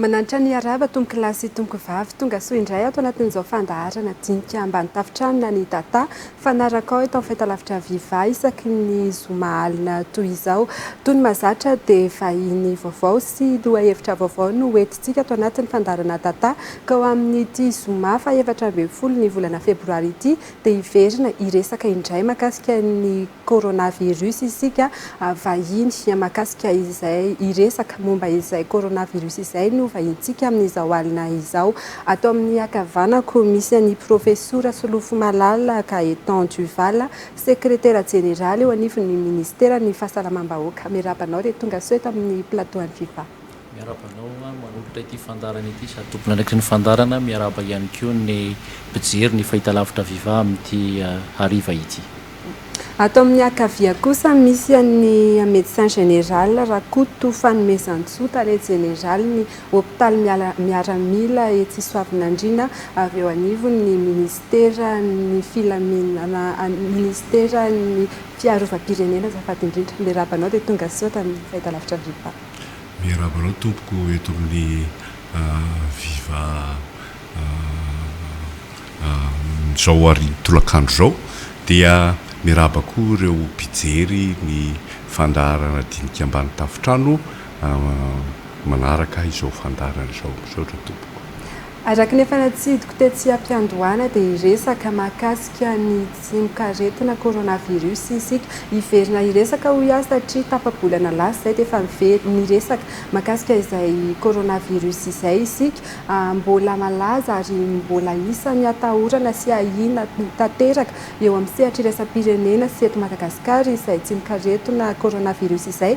Mananitra ny harava tompokolahy sy tompokovavy tonga soa indray ato anatin'izao fandaharana dinika ambany tafotrano na ny Tata fanarakao eto amin'ny fahitalavitra Viva isaky ny zoma alina toy izao. Tony Mazatra dia vahiny vaovao sy lohahevitra vaovao no hoentintsika ato anatin'ny fandaharana Tata ka ho amin'ity zoma faha efatra ambin'ny folo ny volana febroary ity dia hiverina hiresaka indray makasika ny coronavirus isika vahiny mahakasika izay hiresaka momba izay coronavirus izay no vahintsika amin'izao alina izao. Ato amin'ny ankavanako misy an'i Profesora Solofomalala Gaëtan Duval, Sekretera Jeneraly eo anivon'ny Ministeran'ny Fahasalamam-bahoaka. Miarahaba anao re, tongasoa eto amin'ny plateau an'i Viva. Miarahaba anao manolotra ity fandaharana ity sady tompon'andraikitry ny fandaharana, miarahaba ihany koa ny mpijery ny Fahitalavitra Viva amin'ity hariva ity. Ato amin'ny ankavia kosa misy an'ny Médecin Général Rakoto Fanomezantsoa, Tale Jeneralin'ny Hopitaly Miaramila etsy Isoavinandriana, avy eo anivon'ny ny Minisiteran'ny Filaminana, Minisiteran'ny Fiarovam-pirenena azafady indrindra. Miarahaba anao dia tongasoa tamin'ny Fahitalavitra Viva. Miarahaba anao tompoko eto amin'ny viva amin'izao hariva tolakandro izao dia miarahaba koa ireo mpijery ny fandaharana dinika ambany tafontrano manaraka izao fandaharana izao. Misaotra tompoko. Araka ny efa natsidiko tetsy am-piandohana dia hiresaka mahakasika ny tsimokaretina coronavirus isika. Hiverina hiresaka hoy aho satria tapa-bolana lasa izay dia efa niverina niresaka mahakasika izay coronavirus izay isika. Mbola malaza ary mbola isan'ny atahorana sy ahiana tanteraka eo amin'ny sehatr'iraisam-pirenena sy eto Madagasikara izay tsimokaretina coronavirus izay.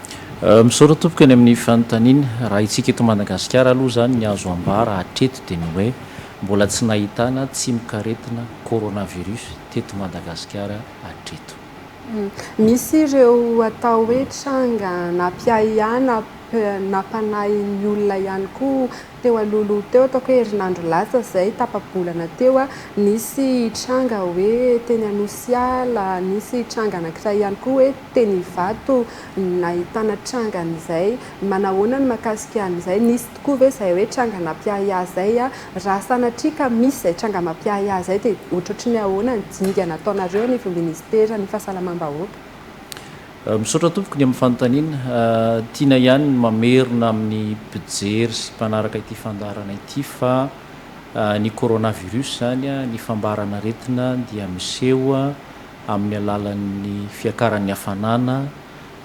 Misaotra tompoko any amin'ny fanontaniana. Raha isika eto Madagasikara aloha izany ny azo ambara hatreto dia ny hoe mbola tsy nahitana tsimokaretina coronavirus teto Madagasikara hatreto. Misy ireo atao hoe tranga nampiahiana, nampanahiny olona ihany koa Teo alohaloha teo, ataoko hoe herinandro lasa izay, tapa-bolana teo, nisy tranga hoe teny Anosiala, nisy tranga anankiray ihany koa hoe teny Ivato nahitana tranga an'izay. Manahoana ny mahakasika an'izay? Nisy tokoa ve izay hoe tranga nampiahiahy izay? Raha sanatria ka misy izay tranga mampiahiahy izay dia ohatrohatry ny ahoana ny dingana ataonareo anivon'ny Minisiteran'ny Fahasalamam-bahoaka? Misaotra tompoko ny amin'ny fanontaniana. Tiana ihany ny mamerina amin'ny mpijery sy mpanaraka ity fandaharana ity fa ny coronavirus izany, ny fambaran'aretina dia miseho amin'ny alalan'ny fiakaran'ny hafanana,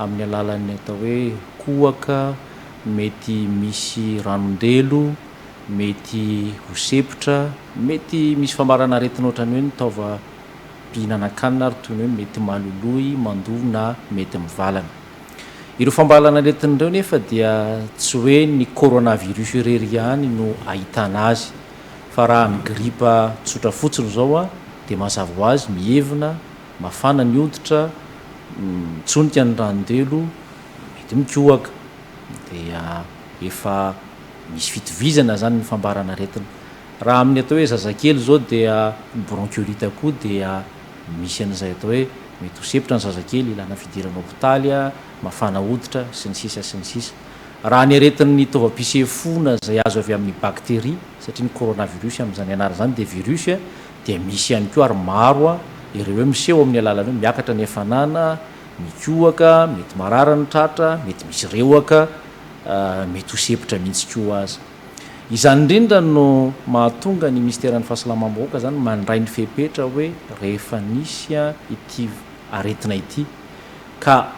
amin'ny alalan'ny atao hoe kohaka, mety misy ranon-delo, mety ho sepotra, mety misy fambaran'aretina ohatran'ny hoe ny taova. mpihinanankanina ary toy ny hoe mety maloloy, mandoa na mety mivalana. Ireo fambalan'aretina ireo nefa dia tsy hoe ny coronavirus irery ihany no ahitana azy fa raha ny gripa tsotra fotsiny izao dia mazava ho azy mievina, mafana ny hoditra, mitsonika ny ranondelo, mety mikohaka. Dia efa misy fitovizana izany ny fambaran'aretina. Raha amin'ny atao hoe zazakely izao dia ny bronchiolite koa dia misy an'izay atao hoe mety ho sepotra ny zazakely, ilana fidirana hopitaly, mafana hoditra, sy ny sisa sy ny sisa. Raha ny aretin'ny taovam-pisefoana izay azo avy amin'ny bacterie, satria ny coronavirus amin'izany ianarana izany dia virus, dia misy ihany koa ary maro ireo hoe miseho amin'ny alalan'ny hoe miakatra ny hafanana, mikohaka, mety marary ny tratra, mety misy rehoka, mety ho sepotra mihitsy koa aza. Izany indrindra no mahatonga ny Minisiteran'ny Fahasalamam-bahoaka izany mandray ny fepetra hoe rehefa nisy ity aretina ity ka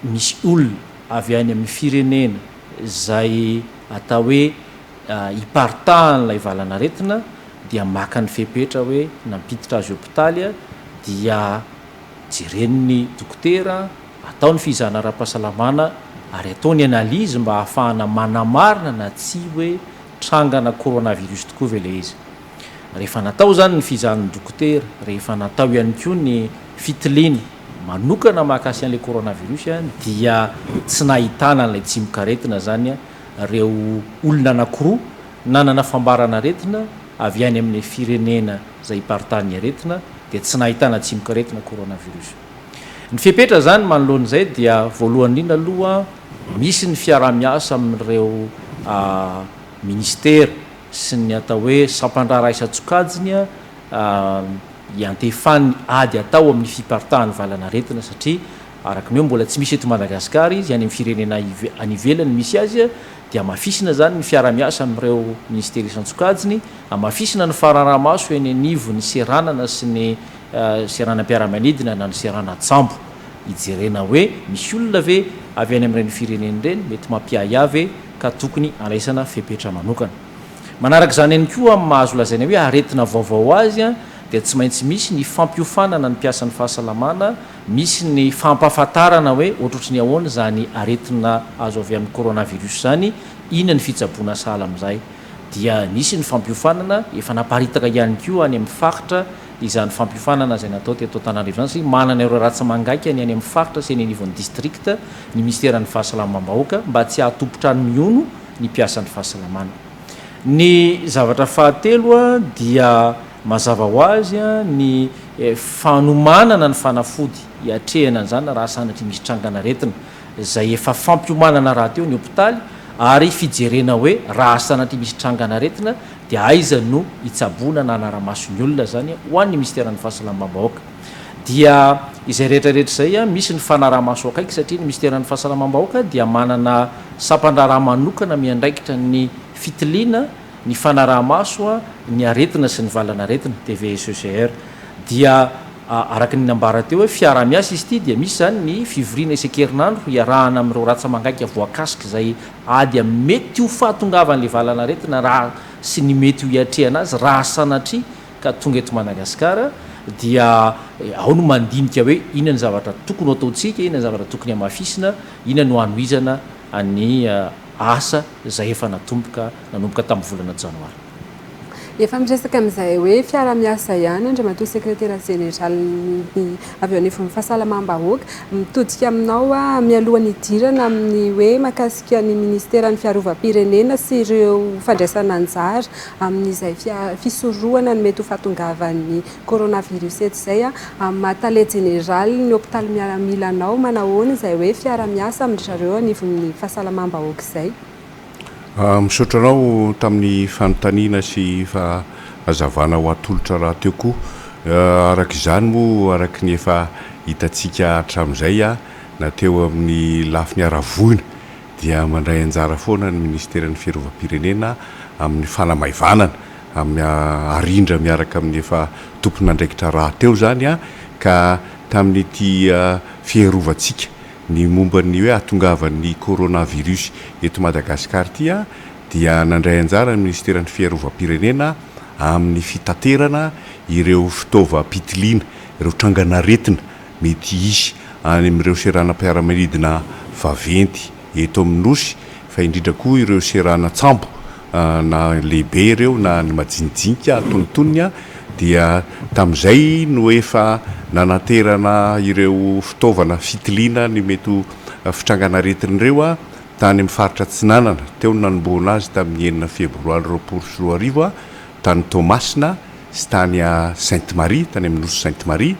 misy olona avy any amin'ny firenena izay atao hoe iparitahan'ilay valan'aretina dia maka ny fepetra hoe nampiditra azy hopitaly dia jeren'ny dokotera Atao ny fizahana ara-pahasalamana ary atao ny analyse mba hahafahana manamarina na tsia hoe trangana coronavirus tokoa ve ilay izy. Rehefa natao izany ny fizahan'ny dokotera, rehefa natao ihany koa ny fitiliana manokana mahakasika an'ilay coronavirus dia tsy nahitana an'ilay tsimokaretina izany ireo olona anankiroa nanana fambaran'aretina avy any amin'ny firenena izay iparitahan'ny aretina dia tsy nahitana tsimokaretina coronavirus. Ny fepetra izany manoloana izay dia voalohany indrindra aloha misy ny fiaraha-miasa amin'ireo minisitera sy ny atao hoe sampan-draharaha isan-tsokajiny hiantefan'ny ady atao amin'ny fiparitahan'ny valanaretina satria araka ny hoe mbola tsy misy eto Madagasikara izy, any amin'ny firenena any ivelany misy azy dia hamafisina izany ny fiaraha-miasa amin'ireo minisitera isan-tsokajiny, hamafisina ny fanarahamaso eny anivon'ny seranana sy ny seranam-piaramanidina na ny seranan-tsambo hijerena hoe misy olona ve avy any amin'ireny firenena ireny mety mampiahiahy ve ka tokony handraisana fepetra manokana. Manaraka izany ihany koa amin'ny maha azo lazaina hoe aretina vaovao azy dia tsy maintsy misy ny fampiofanana ny mpiasan'ny fahasalamana misy ny fampahafantarana hoe ohatrohatry ny ahoana izany aretina azo avy amin'ny coronavirus izany, inona ny fitsaboana sahala amin'izay. dia nisy ny fampiofanana, efa naparitaka ihany koa any amin'ny faritra izany fampiofanana izay natao teto Antananarivo izany satria manana ireo ratsi-mangaika ny any amin'ny faritra sy eny anivon'ny distrikta ny minisiteran'ny fahasalamam-bahoaka mba tsy hahatompon-trano mihono ny mpiasan'ny fahasalamana. Ny zavatra fahatelo dia mazava ho azy ny fanomanana ny fanafody hiatrehana an'izany raha sanatria misy trangan'aretina izay efa fampiomanana rahateo ny hopitaly ary fijerena hoe raha sanatria misy trangan'aretina dia aiza no hitsaboana na hanara-maso ny olona izany ho an'ny minisiteran'ny fahasalamam-bahoaka dia izay rehetra rehetra izay misy ny fanara-maso akaiky satria ny minisiteran'ny fahasalamam-bahoaka dia manana sampan-draharaha manokana miandraikitra ny fitiliana ny fanaraha-maso ny aretina sy ny valan'aretina, TVSECR, dia araka ny nambara teo hoe fiaraha-miasa izy ity dia misy izany ny fivoriana isan-kerinandro hiarahana amin'ireo ratsa-mangaika voakasik'izay ady amin'ny mety ho fahatongavan'ilay valan'aretina raha sy ny mety ho hiatrehana azy raha sanatria ka tonga eto Madagasikara dia ao no mandinika hoe inona ny zavatra tokony ho ataontsika, inona ny zavatra tokony hamafisina, inona no hanohizana ny asa izay efa natomboka nanomboka tamin'ny volana janoary. Efa miresaka amin'izay hoe fiara-miasa ihany Andriamatoa Sekretera Jeneralin'ny avy eo anivon'ny Fahasalamam-bahoaka. Mitodika aminao aho mialoha ny hidirana amin'ny hoe mahakasika ny Minisiteran'ny Fiarovam-pirenena sy ireo fandraisana anjara amin'izay fisorohana ny mety ho fahatongavan'ny Coronavirus eto izay a, amin'ny maha tale jeneraly ny hopitaly miaramila anao manahoana izay hoe fiara miasa amin-dry zareo anivon'ny fahasalamam-bahoaka izay? Misaotra anao tamin'ny fanontaniana sy fahazavana ho atolotra rahateo koa. Araka izany moa araka ny efa hitantsika hatramin'izay a, na teo amin'ny lafiny haravoina dia mandray anjara foana ny ministeran'ny fiarovam-pirenena amin'ny fanamaivanana amin'ny arindra miaraka amin'ny efa tompon'andraikitra rahateo izany ka tamin'ity fiarovantsika ny momba ny hoe hahatongavan'ny coronavirus eto Madagasikara ity dia nandray anjara ny minisiteran'ny Fiarovam-pirenena amin'ny fitaterana ireo fitaovam-pitiliana ireo trangan'aretina mety hisy any amin'ireo seranam-piaramanidina vaventy eto amin'ny Nosy fa indrindra koa ireo seranan-tsambo na lehibe ireo na ny majinijinika antonontonony, dia tamin'izay no efa nananterana ireo fitaovana fitiliana ny mety ho fitrangan'aretina ireo tany amin'ny faritra Atsinanana. Teo no nanombohana azy tamin'ny enina febroary roapolo sy roa arivo tany Toamasina sy tany Sainte Marie, tany amin'ny nosy Sainte Marie.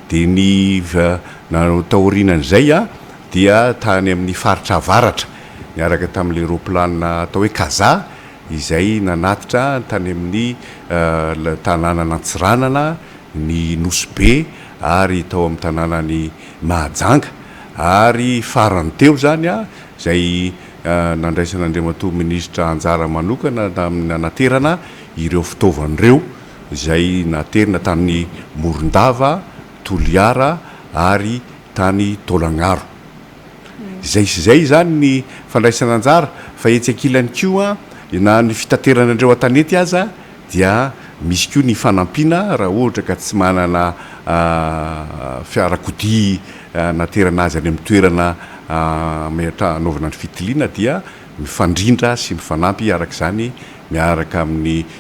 Dia ny taorianan'izay dia tany amin'ny faritra avaratra, niaraka tamin'ilay roaplanina atao hoe Kaza izay nanatitra tany amin'ny tanànan'Antsiranana, ny Nosy Be ary tao amin'ny tanànan'i Mahajanga. Ary farany teo izany izay nandraisan'Andriamatoa Minisitra anjara manokana tamin'ny nanaterana ireo fitaovana ireo. izay naterina tany Morondava, Toliara ary tany Taolagnaro. Izay sy izay izany ny fandraisana anjara fa etsy ankilany koa na ny fitaterana an'ireo an-tanety aza dia misy koa ny fanampiana raha ohatra ka tsy manana fiarakodia naterana azy any amin'ny toerana anaovana ny fitiliana dia mifandrindra sy mifanampy araka izany miaraka amin'ny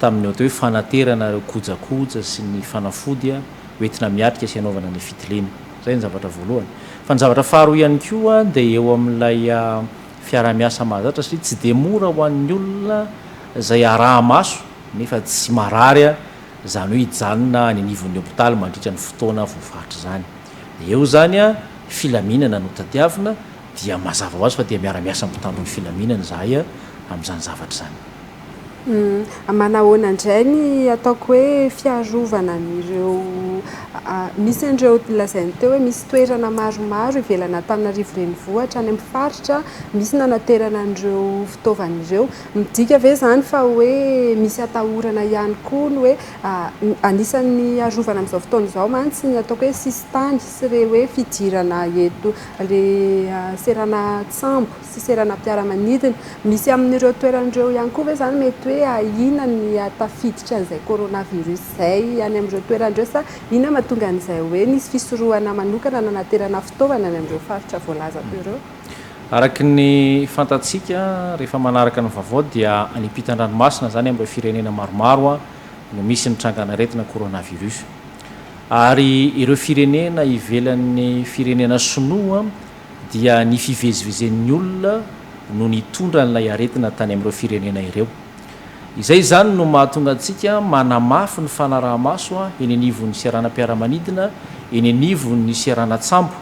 tamin'ny atao hoe fanaterana ireo kojakoja sy ny fanafody hoentina miatrika sy hanaovana ny fitiliana. Izay ny zavatra voalohany. Fa ny zavatra faharoa ihany koa dia eo amin'ilay fiaraha-miasa mahazatra satria tsy dia mora ho an'ny olona izay araha-maso nefa tsy marary izany hoe hijanona any anivon'ny hopitaly mandritra ny fotoana voafaritra izany. Dia eo izany filaminana no tadiavina dia mazava ho azy fa dia miara-miasa amin'ny mpitandro ny filaminana izahay amin'izany zavatra izany. Manahoana indray ny ataoko hoe fiarovana an'ireo misy an'ireo lazainy teo hoe misy toerana maromaro ivelan'Antananarivo renivohitra any amin'ny faritra misy nanaterana an'ireo fitaovana ireo. Midika ve izany fa hoe misy atahorana ihany koa ny hoe anisan'ny arovana amin'izao fotoana izao mantsy ny ataoko hoe sisintany sy ireny hoe fidirana eto ilay seranan-tsambo? sy seranam-piaramanidina. Misy amin'ireo toerana ireo ihany koa ve izany mety hoe ahiana ny hahatafiditra an'izay coronavirus izay any amin'ireo toerana ireo sa inona no mahatonga an'izay hoe nisy fisorohana manokana nanaterana fitaovana any amin'ireo faritra voalazako ireo? Araka ny fantatsika rehefa manaraka ny vaovao dia any ampitan-dranomasina izany amin'ireo firenena maromaro no misy ny trangan'aretina coronavirus ary ireo firenena ivelan'ny firenena sinoa dia ny fivezivezen'ny olona no nitondra an'ilay aretina tany amin'ireo firenena ireo. Izay izany no mahatonga antsika manamafy ny fanaraha-maso eny anivon'ny seranam-piaramanidina, eny anivon'ny seranan-tsambo,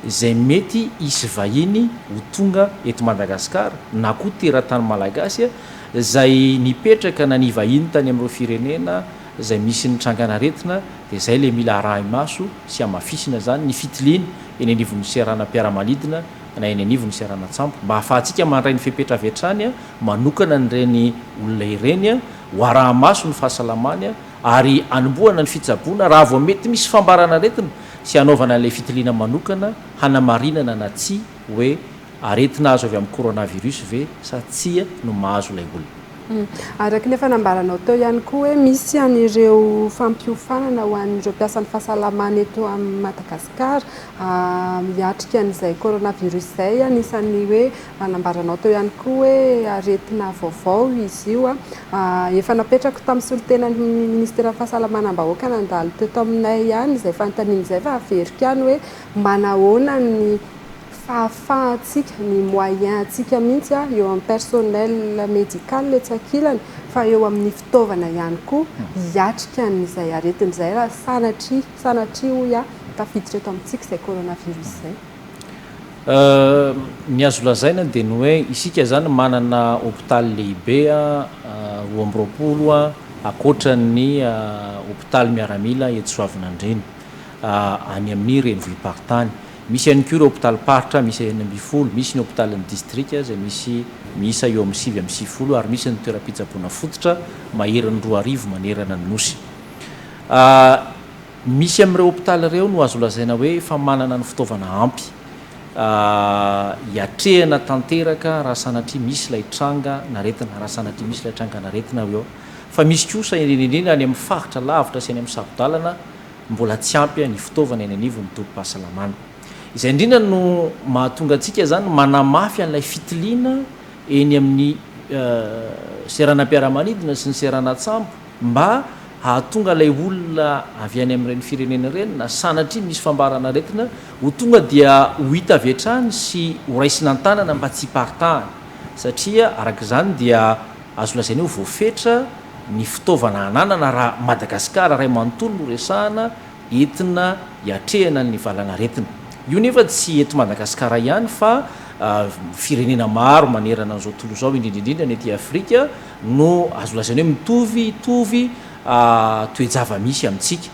izay mety hisy vahiny ho tonga eto Madagasikara na koa teratany Malagasy izay nipetraka na nivahiny tany amin'ireo firenena izay misy ny trangan'aretina dia izay ilay mila arahi-maso sy hamafisina izany ny fitiliana eny anivon'ny seranam-piaramanidina na eny anivon'ny seranan-tsambo mba hahafahantsika mandray ny fepetra avy hatrany manokana an'ireny olona ireny ho arahi-maso ny fahasalamany ary hanombohana ny fitsaboana raha vao mety misy fambaran'aretina sy hanaovana an'ilay fitiliana manokana hanamarinana na tsia hoe aretina azo avy amin'ny coronavirus ve sa tsia no mahazo ilay olona. Araka ny efa nambaranao teo ihany koa hoe misy an'ireo fampiofanana ho an'ireo mpiasan'ny fahasalamana eto Madagasikara hiatrika an'izay coronavirus izay. Anisan'ny hoe nambaranao teo ihany koa hoe aretina vaovao izy io. Efa napetrako tamin'ny solontenan'ny minisiteran'ny fahasalamanam-bahoaka nandalo teto aminay ihany izay fanontaniana izay fa averiko ihany hoe manahoana ny fahafahantsika, ny moyens antsika mihitsy eo amin'ny personnel médical etsy ankilany fa eo amin'ny fitaovana ihany koa hiatrika an'izay aretina izay raha sanatria, sanatria hoy aho, tafiditra eto amintsika izay coronavirus izay. Ny azo lazaina dia ny hoe isika izany manana hopitaly lehibe roa amby roapolo ankoatran'ny hopitaly miaramila eto Soavinandriana, any amin'ny renivohi-paritany. Misy ihany koa ireo hopitalim-paritra miisa enina ambin'ny folo, misy ny hopitalin'ny distrika izay misy miisa eo amin'ny sivy amby sivifolo ary misy ny toeram-pitsaboana fototra maherin'ny roa arivo manerana ny Nosy. Misy amin'ireo hopitaly ireo no azo lazaina hoe efa manana ny fitaovana ampy hiatrehana tanteraka raha sanatria misy ilay tranga n'aretina, raha sanatria misy ilay tranga n'aretina eo. Fa misy kosa, indrindra indrindra any amin'ny faritra lavitra sy any amin'ny saro-dalana, Mbola tsy ampy ny fitaovana eny anivon'ny tobim-pahasalamana. Izay indrindra no mahatonga antsika izany manamafy an'ilay fitiliana eny amin'ny seranam-piaramanidina sy ny seranan-tsambo mba hahatonga ilay olona avy any amin'ireny firenena ireny na sanatria misy fambaran'aretina ho tonga dia ho hita avy hatrany sy ho raisina an-tanana mba tsy hiparitahana satria araka izany dia Azo lazaina hoe voafetra ny fitaovana ananana raha Madagasikara iray manontolo no resahana entina hiatrehana ny valanaretina. Io nefa tsy eto Madagasikara ihany fa firenena maro manerana an'izao tontolo izao, indrindra indrindra ny aty Afrika no azo lazaina hoe mitovitovy toe-java-misy amintsika.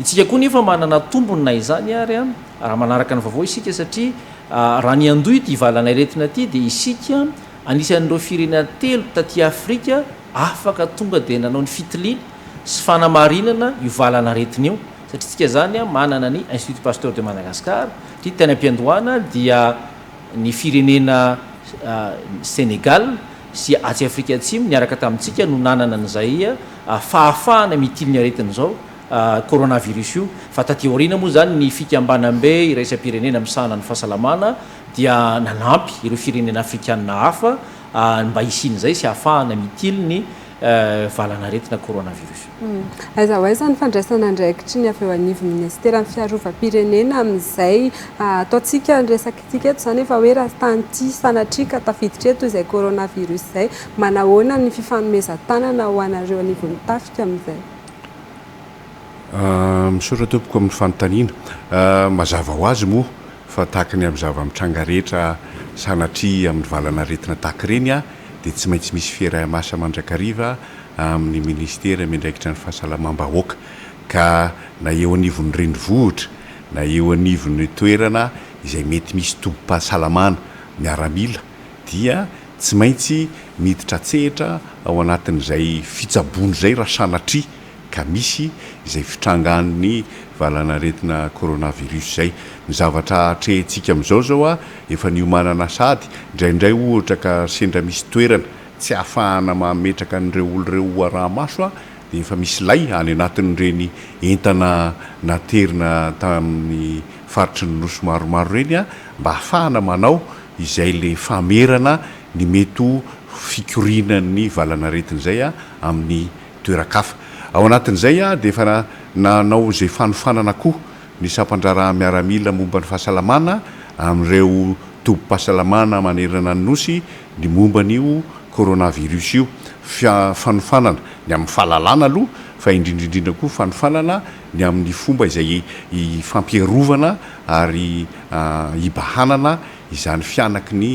Itsika koa nefa manana tombony na izany ary raha manaraka ny vaovao isika satria raha niandoha ity valanaretina ity dia isika Anisan'ireo firenena telo taty Afrika afaka tonga dia nanao ny fitiliana sy fanamarinana io valanaretina io, satria tsika zany manana ny Institut Pasteur de Madagascar, satria tany am-piandohana dia ny firenena Senegal sy atsy Afrika Atsimo niaraka tamintsika no nanana an'izay fahafahana mitily ny aretina izao coronavirus io, fa taty aoriana moa zany ny fikambanambe iraisam-pirenena misahana ny fahasalamana dia nanampy ireo firenena afrikanina hafa ny mba hisian'izay sy hahafahana mitily ny valanaretina coronavirus. Aiza ho aiza ny fandraisana andraikitry ny avy eo anivon'ny minisiteran'ny fiarovam-pirenena amin'izay ataontsika ny resakantsika eto izany efa hoe raha tany ity sanatria ka tafiditra eto izay coronavirus izay, manahoana ny fifanomezan-tanana ho anareo anivon'ny tafika amin'izay? Misaotra tompoko amin'ny fanontaniana. Mazava ho azy moa fa tahaka ny amin'ny zava-mitranga rehetra sanatria amin'ny valan'aretina tahaka ireny dia tsy maintsy misy fiaraha-miasa mandrakariva amin'ny Minisitera miandraikitra ny fahasalamam-bahoaka ka na eo anivon'ny renivohitra na eo anivon'ny toerana izay mety misy tobim-pahasalamana miaramila dia tsy maintsy miditra an-tsehatra ao anatin'izay fitsaboana izay raha sanatria ka misy izay fitrangan'ny valan'aretina coronavirus izay. Ny zavatra atrehintsika amin'izao izao a, efa niomanana sahady, indraindray ohatra ka sendra misy toerana tsy ahafahana mametraka an'ireo olona ireo ho araha-maso a, dia efa misy lay any anatin'ireny entana naterina tamin'ny faritry ny Nosy maromaro ireny a, mba ahafahana manao izay ilay famerana ny mety ho fikorianan'ny valan'aretina izay a, amin'ny. toeran-kafa. Ao anatin'izay aho dia efa nanao izay fanofanana koa ny sampan-draharaha miaramila momba ny fahasalamana amin'ireo tobim-pahasalamana manerana ny Nosy ny momba an'io coronavirus io, fanofanana ny amin'ny fahalalana aloha fa indrindra indrindra koa fanofanana ny amin'ny fomba izay hifampiarovana ary hibahanana izany fihanaky ny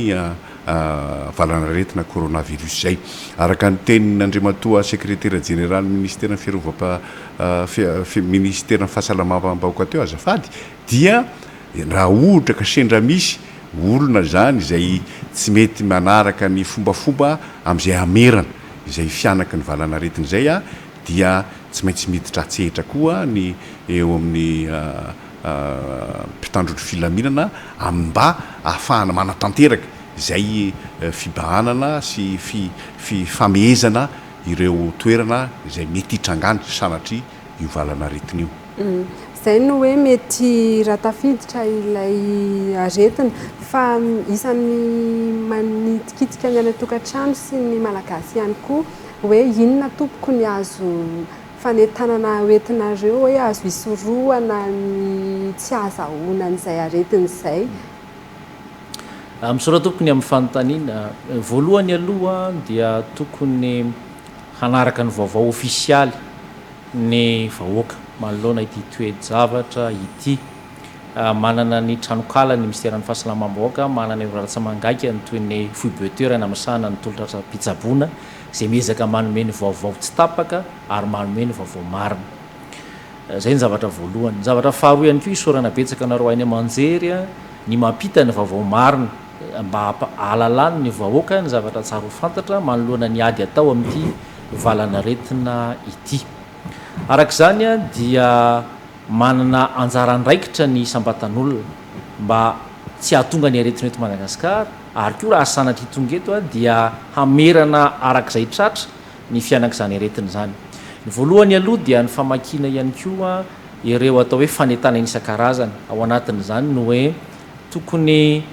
valan'aretina coronavirus izay. Araka ny tenin'Andriamatoa Sekretera Jeneralin'ny Ministeran'ny Fiarovam-, Ministeran'ny Fahasalamam-bahoaka teo azafady dia raha ohatra ka sendra misy olona izany izay tsy mety manaraka ny fombafomba amin'izay hamerana izay fihanaky ny valan'aretina izay dia tsy maintsy miditra an-tsehatra koa ny eo amin'ny mpitandro ny filaminana amin'ny mba ahafahana manatanteraka izay fibahanana sy fifamehezana ireo toerana izay mety hitrangany sanatria io valan'aretina io. Izay no hoe mety raha tafiditra ilay aretina. Fa isan'ny manitikitika ny any an-tokantrano sy ny Malagasy ihany koa hoe inona tompoko ny azo fanentanana hoentinareo hoe azo hisorohana ny tsy hahazahoana an'izay aretina izay. Misaotra tompoko ny amin'ny fanontaniana. Voalohany aloha dia tokony hanaraka ny vaovao ofisialy ny vahoaka manoloana ity toe-javatra ity. Manana ny tranonkala ny minisiteran'ny fahasalamam-bahoaka, manana ireo lahatsaman-gaikany toy ny foibe toerana misahana ny tolotr'asa-pitsaboana, izay miezaka manome ny vaovao tsy tapaka ary manome ny vaovao marina. Izay ny zavatra voalohany. Ny zavatra faharoa ihany koa, isaorana betsaka anareo haino aman-jery ny mampita ny vaovao marina mba hampahalalahan' ny vahoaka ny zavatra tsara ho fantatra manoloana ny ady atao amin'ity valan'aretina ity. Araka izany dia manana anjara andraikitra ny isam-batan'olona mba tsy hahatonga ny aretina eto Madagasikara. Ary koa raha sanatria tonga eto dia hamerana araka izay tratra ny fiainan'izany aretina izany. Ny voalohany aloha dia ny famakiana ihany koa ireo atao hoe fanentanana isan-karazany. Ao anatin'izany ny hoe tokony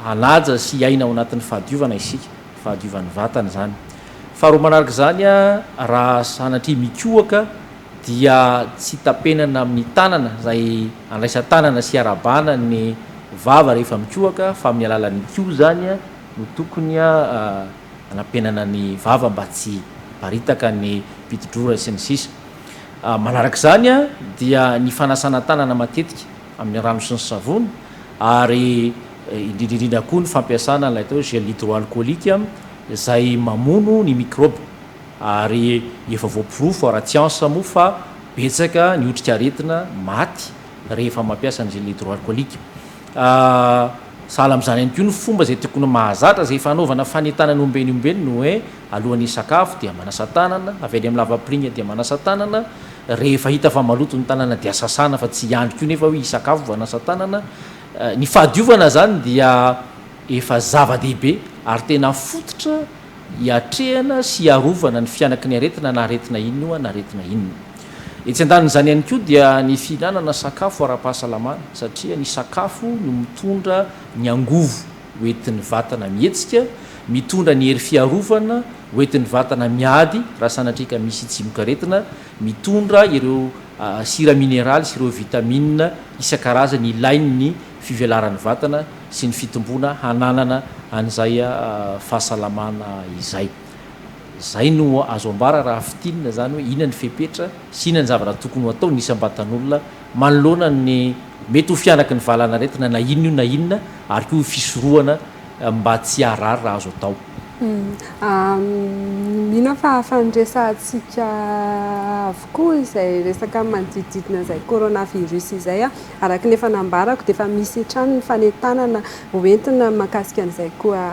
hanaja sy hiaina ao anatin'ny fahadiovana isika, fahadiovan'ny vatana izany. Faharoa manaraka izany raha sanatria mikohaka dia tsy tapenana amin'ny tanana izay Andraisan-tanana sy arabana ny vava rehefa mikohaka fa amin'ny alalan'ny kiho izany no tokony hanampenana ny vava mba tsy hiparitaka ny piti-drora sy ny sisa Manaraka izany dia ny fanasana tanana matetika amin'ny rano sy ny savony ary indrindra indrindra koa ny fampiasana ilay atao hoe gel hydroalcoolique izay mamono ny mikrôba. Ary efa voaporofo ara-tsiansa moa fa betsaka ny otrikaretina maty rehefa mampiasa ny gel hydroalcoolique. Sahala amin'izany ihany koa ny fomba izay tokony mahazatra izay fanaovana fanentanana ombieny ombieny ny hoe alohan'ny hisakafo dia manasa tanana, avy any amin'ny lavapiringa dia manasa tanana, rehefa hita fa maloto ny tanana dia sasana fa tsy hiandry koa nefa hoe hisakafo vao hanasa tanana. Ny fahadiovana izany dia efa zava-dehibe ary tena fototra. hiatrehana sy hiarovana ny fianaky ny aretina na aretina inona na aretina inona. Etsy andanin'izany ihany koa dia ny fihinanana sakafo ara-pahasalamana satria ny sakafo no mitondra ny angovo ho entin'ny vatana mihetsika, mitondra ny hery fiarovana ho entin'ny vatana miady raha sanatria ka misy tsimokaretina, mitondra ireo sira mineraly sy ireo vitamina isan-karazany ilain'ny fivelaran'ny vatana sy ny fitomboana hananana an'izay fahasalamana izay. Izay no azo ambara raha fintinina izany hoe inona ny fepetra sy inona ny zavatra tokony ho atao ny isam-batan'olona manoloana ny mety ho fihanaky ny valanaretina na inona io na inona ary koa fisorohana mba tsy haharary raha azo atao. Mino aho fa afa niresahantsika avokoa izay resaka ny manodidididina izay coronavirus izay. Araka ny efa nambarako dia efa misy hatrany ny fanentanana ho entina mahakasika an'izay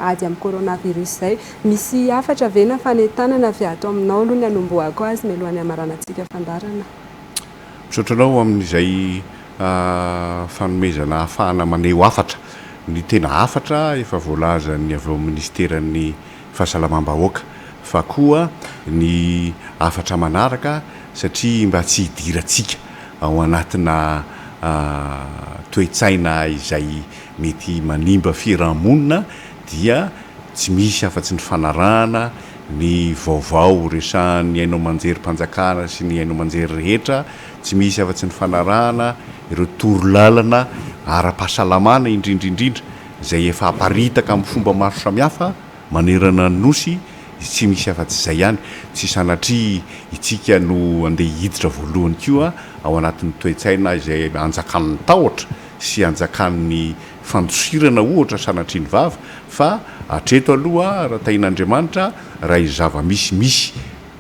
ady amin'ny coronavirus izay. Misy hafatra ve na fanentanana avy ato aminao aloha ny hanombohako azy mialohan'ny hamaranantsika fandaharana? Misaotra anao amin'izay fanomezana ahafahana maneho hafatra. Ny tena hafatra efa voalazan'ny avy ao amin'ny Minisiteran'ny Fahasalamam-bahoaka fa koa ny hafatra manaraka satria mba tsy hidirantsika ao anatina toe-tsaina izay mety manimba fiaraha-monina dia tsy misy afa-tsy ny fanarahana ny vaovao resahan'ny haino aman-jerim-panjakana sy ny haino aman-jery rehetra, tsy misy afa-tsy ny fanarahana ireo torolalana ara-pahasalamana indrindra indrindra izay efa aparitaka amin'ny fomba maro samihafa manerana ny Nosy, dia tsy misy afa-tsy izay ihany. Tsy sanatria itsika no andeha hiditra voalohany koa ao anatin'ny toe-tsaina izay anjakan'ny tahotra sy anjakan'ny fandosirana ohatra sanatriany vava fa hatreto aloha raha tahin'Andriamanitra raha izay zava-misy misy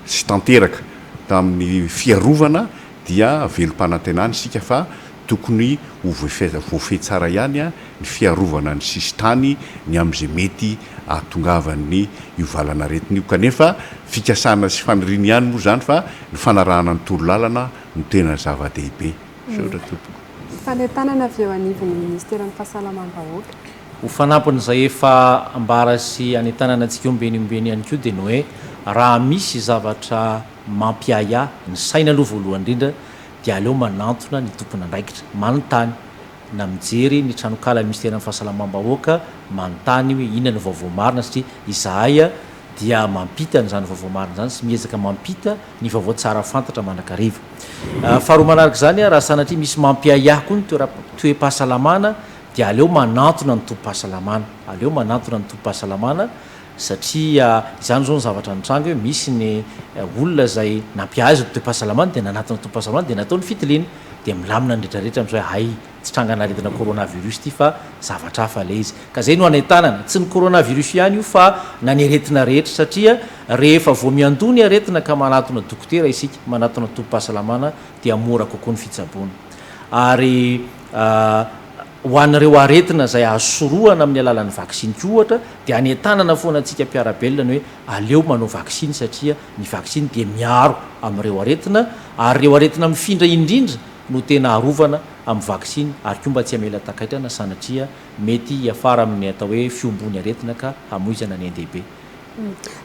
sy tanteraka tamin'ny fiarovana dia velom-panantenana isika fa tokony ho voafehy tsara ihany ny fiarovana ny sisintany ny amin'izay mety ahatongavan'ny io valan'aretina io kanefa fikasana sy faniriana ihany moa izany fa ny fanarahana ny toro-lalana no tena zava-dehibe. Misaotra tompoko. Fanentanana avy eo anivon'ny Ministeran'ny Fahasalamam-bahoaka. Ho fanampin'izay efa ambara sy anentanana antsika ombieny ombieny ihany koa dia ny hoe raha misy zavatra mampiahiahy ny saina aloha voalohany indrindra dia aleo manantona ny tompon'andraikitra manontany na mijery ny tranonkalan'ny Misteran'ny Fahasalamam-bahoaka manontany hoe inona no vaovao marina satria izahay dia mampita an'izany vaovao marina izany sy miezaka mampita ny vaovao tsara fantatra mandrakariva. Faharoa manaraka izany, raha sanatria misy mampiahiahy koa ny toe-pahasalamana dia aleo manantona ny tobim-pahasalamana, aleo manantona ny tobim-pahasalamana satria izany izao ny zavatra nitranga hoe misy ny olona izay nampiahiahy izao toe-pahasalamany dia nanatona tobim-pahasalamana dia natao ny fitiliana dia milamina ny retraretra amin'izao hoe hay Tsy trangan'aretina coronavirus ity fa zavatra hafa ilay izy. Ka izay no anentanana. Tsy ny coronavirus ihany io fa na ny aretina rehetra satria rehefa vao miandoha ny aretina ka manatona dokotera isika, manatona tobim-pahasalamana dia mora kokoa ny fitsaboana. Ary ho an'ireo aretina izay azo sorohana amin'ny alalan'ny vaksiny koa ohatra dia anentanana foana antsika mpiara-belona ny hoe aleo manao vaksiny satria ny vaksiny dia miaro amin'ireo aretina ary ireo aretina mifindra indrindra no tena arovana amin'ny vaksiny ary koa mba tsy hamela takaitrana sanatria mety hiafara amin'ny atao hoe fiombon'ny aretina ka hamoizana ny ain-dehibe.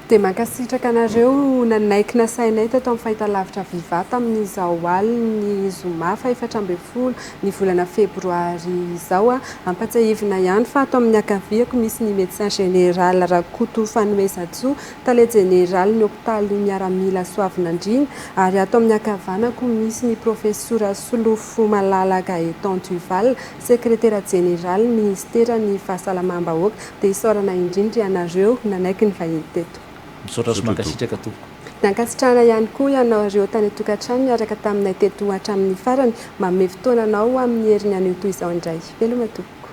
Dia mankasitraka anareo nanaiky nasainay teto amin'ny fahitalavitra Viva tamin'izao alin'ny zoma fahefatra ambin'ny folo ny volana febroary izao. Ampatsiahivina ihany fa ato amin'ny ankaviako misy ny Médecin Général Rakoto Fanomezantsoa Tale jeneralin'ny hopitaly miaramila Soavinandriana, ary ato amin'ny ankavanako misy ny Profesora Solofomalala Gaëtan Duval, Sekretera Jeneralin'ny Minisiteran'ny Fahasalamam-bahoaka. Dia isaorana indrindra ianareo nanaiky ny vahiny teto. Misaotra sy mankasitraka Tompoko. Dia ankasitrahana ihany koa ianao ireo tany an-tokantrano niaraka taminay teto hatramin'ny farany. Manome fotoana anao amin'ny herin'ny anio toy izao indray. Veloma Tompoko.